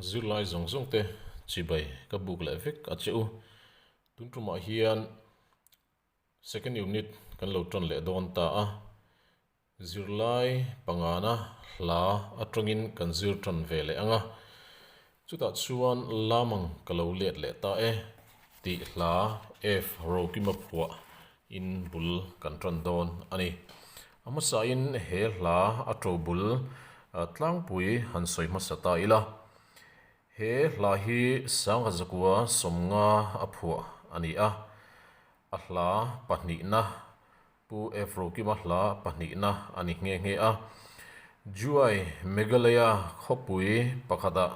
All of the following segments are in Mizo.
Zirlai zawng zawng te chibai ka buk leh vek a che u. Tun tumah hian second unit kan lo tan leh dawn ta a. Zirlai pangana hla atangin kan zir tan ve leh anga. Chutah chuan lam ang ka lo let leh ta e. Tih hla F Rokima phuah In bul kan tan dawn a ni. A hmasahin he hla a to bul tlangpui han sawi hmasa ta ila. He hla hi Sangazakua sawmnga a phuah a ni a. A hla pahnihna, Pu Evrokima hla pahnihna a ni nghe nghe a. Juai Meghalaya khawpui pakhatah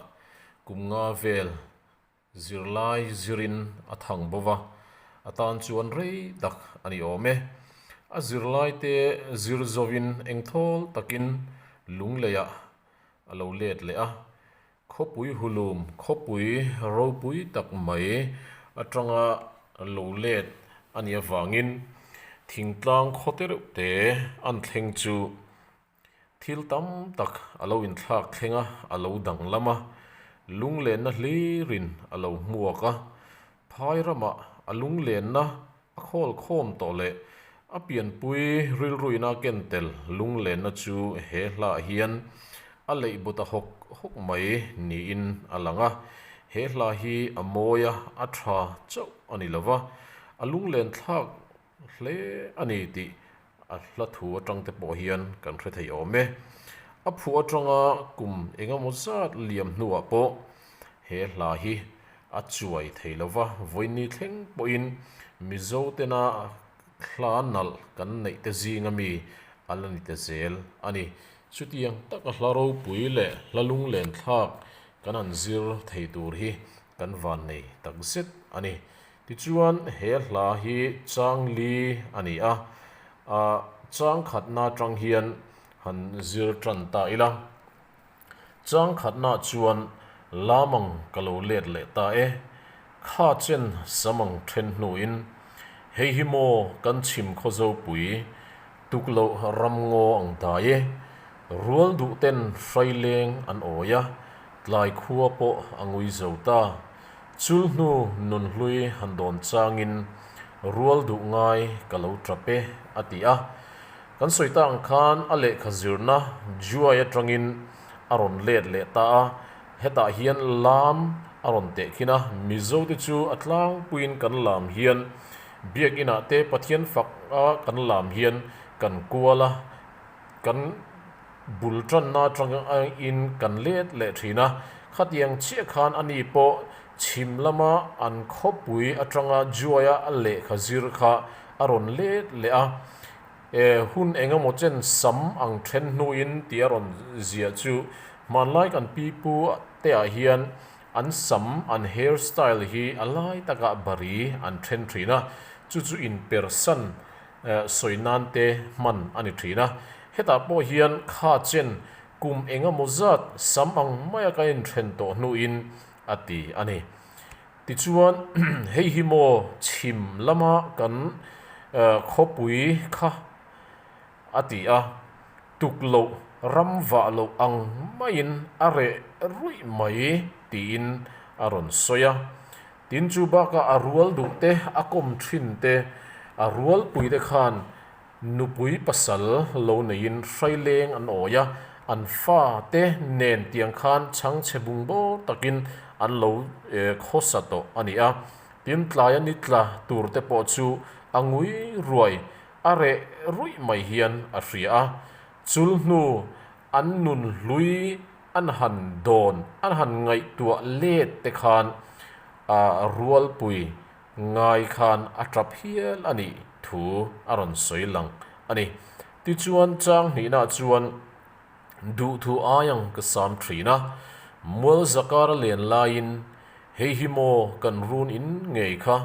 kum nga vel Zirlai zirin a thang bo va, a tan chuan rei tak a ni awm e. A zirlai te zir zovin eng thawl takin lungleiah a lo let leh a. Khawpui hulum, khawpui ropui tak mai atanga lo let a nih avangin thingtlang khaw te reuh te an thleng chu Thil tam tak a lo inthlak thleng a, a lo danglam a, lunglenna hlirin a lo hmuak a. Phai ramah a lunglenna a khawl khawm tawh leh a pianpui rilruina a ken tel lunglenna chu he hlah hian a leihbu ta hawk hawk mai niin a lang a. He hlah hi a mawi a, a tha chauh a ni lo va, a lunglen thlak hle a ni tih a hla thu atang te pawh hian kan hre thei awm e. A phuh atanga kum engemaw zat liam hnuah pawh he hla hi a chuai thei lo va, vawiini thleng pawhin Mizo tena hla nalh kan neih te zinga mi a la ni ta zel a ni. Chutiang taka hla ropui leh hla lunglenthlak kan han zir thei tur hi kan vannei takzet a ni. Tichuan, he hla hi chang li a ni a, a chang khatna atang hian han zir tan ta ila. Chang khatna chuan lam ang ka lo let leh ta e. Kha chen sam ang then hnuin, Hei hi maw kan chhim khaw zopui? Tukloh ram ngaw ang ta e. Rual duh ten hrai leng an awi a, tlai khua pawh a ngui zo ta. Chul hnu nun hlui han dawn changin rual duh ngai ka lo tap e, a ti a. Kan sawi ta ang khan a lehkha zirna Juai atangin a rawn let leh ta a, hetah hian lam a rawn tehkhin a. Mizote chu a tlangpuiin kan lam hian Biakinah te Pathian fak a kan lam hian kan kual a, kan bul tanna atangin kan let leh thin a. Khatiang chiah khan ani pawh chhim lama an khawpui atanga juaia a lehkha zir kha a rawn let leh a. E, hun engemaw chen sam ang then hnuin tih a rawn zia chu hmanlai kan pipu teah hian An sam, an hair style hi a lai taka bari an then thin a, chu chu in persan sawi nan te hman a ni thin a. Hetah pawh hian kha chen kum engemaw zat sam ang maia ka inthen tawh hnuin a ti a ni. Tichuan hei hi maw chhim lama kan khawpui kha. a ti a, tuk loh ram vah loh ang maiin a reh ruih mai tiin a rawn sawi a, tin chu baka a rual duh te a kawm thin te a rual pui te khan nupui pasal lo neiin hraileng an awi a, an fa te nen tiang khan chhangchhe bung baw takin an lo khawsa tawh a ni a, tin tlaia ni tla tur te pawh chu a ngui ruai a reh ruih mai hian a hria a, chul hnu an nun hlui an han dawn an han ngaihtuah let te khan ah rualpui ngai khan a tap hial a nih thu a rawn sawi lang a ni. Tichuan chang hnihna chuan Duhthu ai ang ka sam thin a, Mual zakar a len laiin Hei hi maw kan run in ngei kha,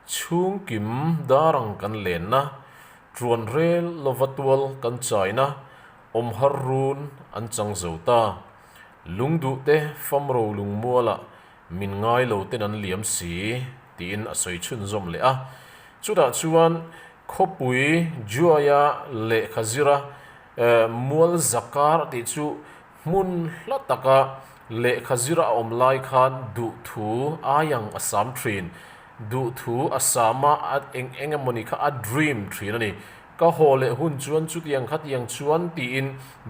chhung kim dar ang kan lenna, Tuan rel lova tual kan chaina, Awm har run an chang zo ta, Lungduhte famro lungmuala, Min ngai lo ten an liam si, tiin a sawi chhunzawm leh a. Chutah chuan Khawpui, Juaia lehkha zira Mual Zakar tih chu hmun hla taka lehkha zira a awm lai khan duh thu ai ang a sam thin. Duh thu a sama eng eng emawni kha a dream thin a ni. Ka haw leh hun chuan chutiang kha tiang chuan tiin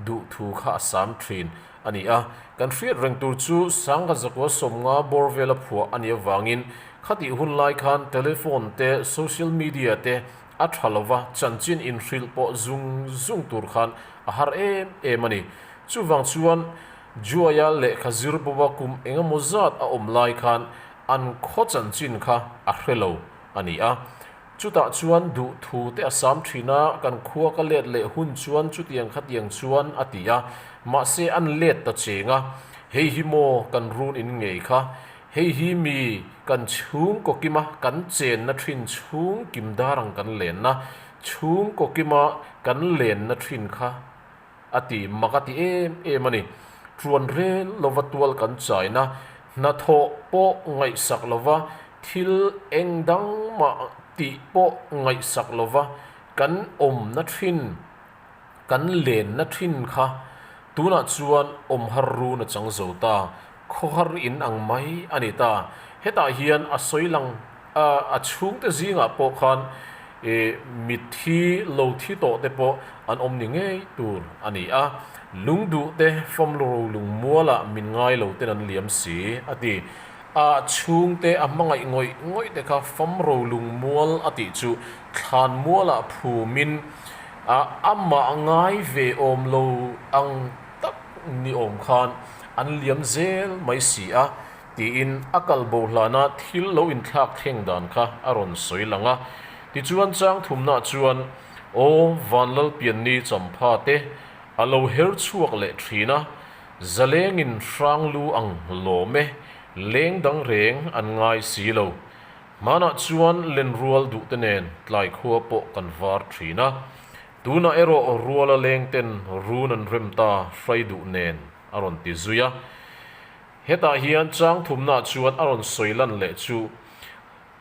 duh thu kha a sam thin a ni a. Kan hriat reng tur chu Sangkhazakuaa sawmnga bawr vela phuah a ni avangin khatih hun lai khan telephone te social media te a tha lova chanchin inhrilh pawh zung zung tur khan a har em em a ni. Chuvang chuan Juaia lehkha zir bova kum engemawzat a awm lai khan an khaw chanchin kha a hre lo a ni a. Chutah chuan duh thu te a sâm ṭhîn a, kan khua ka lêt leh hun chuan chutiang kha tiang chuan a ti a, mahse an lêt ta chêng a, hei hi maw kan run in ngei kha, hei hi mi kan chhûng kawkim a, kan chênna ṭhin chhûng kim dâr ang kan lênna, chhûng kawkima kan lênna ṭhin kha a ti mak a ti em em a ni. Tuan rel lova tual kan chaina hnathawh pawh ngaihsak lova thil eng dang mah tih pawh ngaihsak lova kan awmna thin, kan lenna thin kha tunah chuan awm har run a chang zo ta. khawhar in ang mai a ni ta. Hetah hian a sawi lang a, a chhungte zingah pawh khan mitthi lo thi tawh te pawh an awm ni ngei tur a ni a, lungduhte famlu ro lungmuala min ngai lo ten an liam si a ti. A chhungte a hmangaih ngawih ngawih te kha fam ro lungmual a tih chu thlanmuala phumin a amah ngai ve awm lo ang. tak ni awm khan an liam zel mai si a, tiin a kal bohlana thil lo inthlak thleng dan kha a rawn sawi lang a. Tichuan chang thumna chuan aw van Lalpianni champha te a lo her chhuak leh thin a, Zalengin hranglu ang lawm e, leng dang reng an ngai si lo. Hmanah chuan Lenrual duhte nen tlai khua pawh kan var thin a. Tunah erawh ruala lengten run an rem ta hrai duh nen a rawn ti zui a. Hetah hian changthumna chuan a rawn sawi lan leh chu.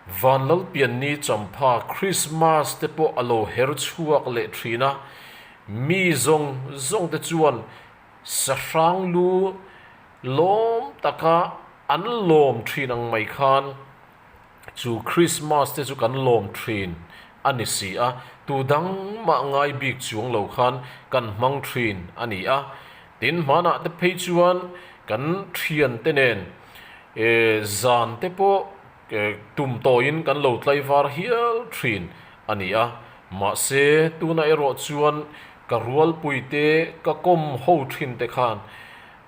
Van Lalpianni champha Krismas te pawh a lo her chhuak leh thin a, mi zawng zawng te chuan sahrang lu lawm taka an lawm thin ang mai khan. chu Krismas te chu kan lawm thin a ni si a, tu dang mah ngai bik chuang lo khan kan hmang thin a ni a. Tin, hmanah te phei chuan kan thiante nen zan te pawh tum tawiin kan lo tlaivar hial thin a ni a. Mahse, tuna erawh chuan ka rualpuite ka kawm ho thinte khan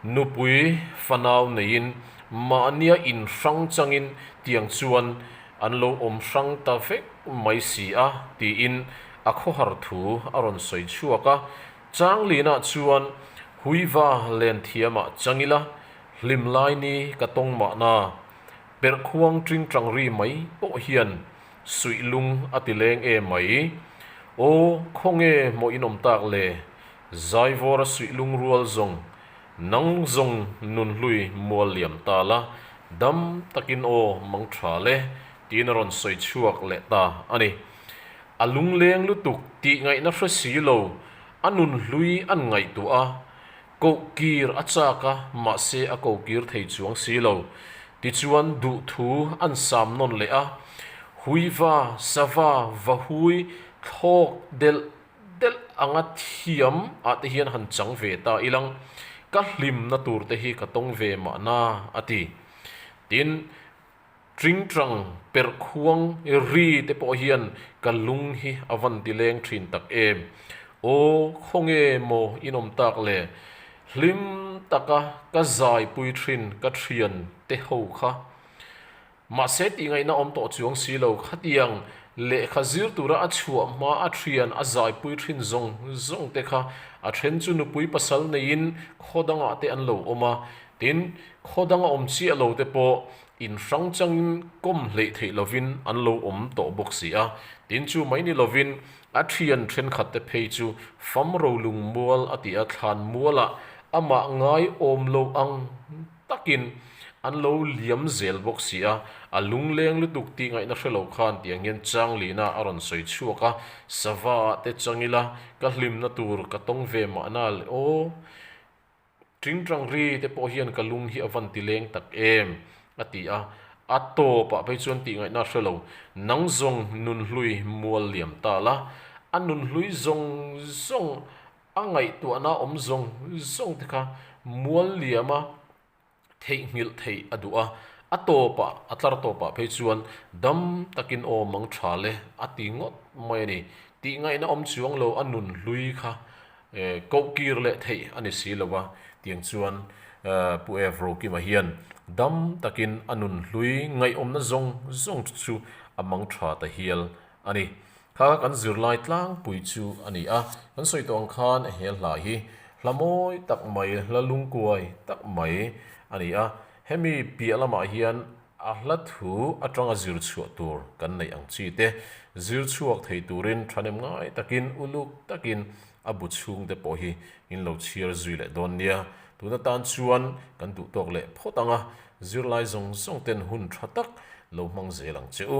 Nupui fanau neiin mahnia in hrang changin tiang chuan an lo awm hrang ta vek mai si a tiin a khawhar thu a rawn sawi chhuak a. Changlina chuan Huiva Lenthiama changila hlimlai ni ka tawng mahna perh khuang tingtang ri mai pawh hian suihlung a ti leng em mai. Aw khawnge mawinawm tak le Zaivawra suih lungrual zawng nang zawng nun hlui mual liam ta la dam takin aw mang tha le tiin a rawn sawi chhuak leh ta a ni. A lungleng lutuk tihngaihna hre si lo a nun hlui an ngaihtuah a, kohkir a chak a mahse a kokir thei chuang si lo. Tichuan duh thu an sam nawn leh a, huiva sava vahui thlawk delh delh anga thiam ah te hian han chang ve ta ilang, ka hlimna tur te hi ka tawng ve mah na a ti. Tin, Tingtang perh khuang ri te pawh hian ka lung hi a van ti leng thin tak em. Aw khawnge maw in awm tak le? Hlim taka ka zaipui thin ka thian te ho kha. Mahse tihngaihna awm tawh chuang si lo, khatiang lehkha zir tura a chhuah hma a thian a zaipui thin zawng zawng te kha a then chu nupui pasal neiin khaw dangah te an lo awm a, tin, khaw danga awm chiah lo te pawh in hrang changin kawm hleih theih lovin an lo awm tawh bawk si a, tin chu mai ni lovin a thian thenkhat te phei chu fam ro lungmual a tia thlan mualah amah ngai awm lo ang. takin an lo liam zel bawk si a, a lungleng lutuk tingaihna hre lo khan ti ang hian Changlina a rawn sawi chhuak a, sava ah te chang ila ka hlimna tur ka tawng ve mah na le aw, Tingtangri te pawh hian ka lung hi a van ti leng tak em a ti a, a tawp ah phei chuan tingaihna hre lo, nang zawng nun hlui mual liam ta la, a nun hlui zawng zawng a ngaihtuahna awm zawng zawng te kha mual liam a theihnghilh theih a duh a, a tawpah, a tlar tawpah phei chuan dam takin awm ang tha le a ti ngawt mai a ni. Tihngaihna awm chuang lo a nun hlui kha kohkir leh theih a ni si lo a, tiang chuan Pu Ev Rokima hian dam takin a nun hlui ngaihawmna zawng zawng chu a mang tha ta hial a ni. Kha kan zirlai tlangpui chu a ni a, kan sawi tawh ang khan he hla hi hla mawi tak mai, hla lungkuai tak mai a ni a, hemi piah lamah hian a hla thu atanga zir chhuah tur kan neih ang chi te, zir chhuak thei turin thahnem ngai takin uluk takin a bu chhung te pawh hi in lo chhiar zui leh dawn nia, tuna tan chuan kan duh tawk leh phawt ang a, zirlai zawng zawng ten hun tha tak lo hmang zel ang che u.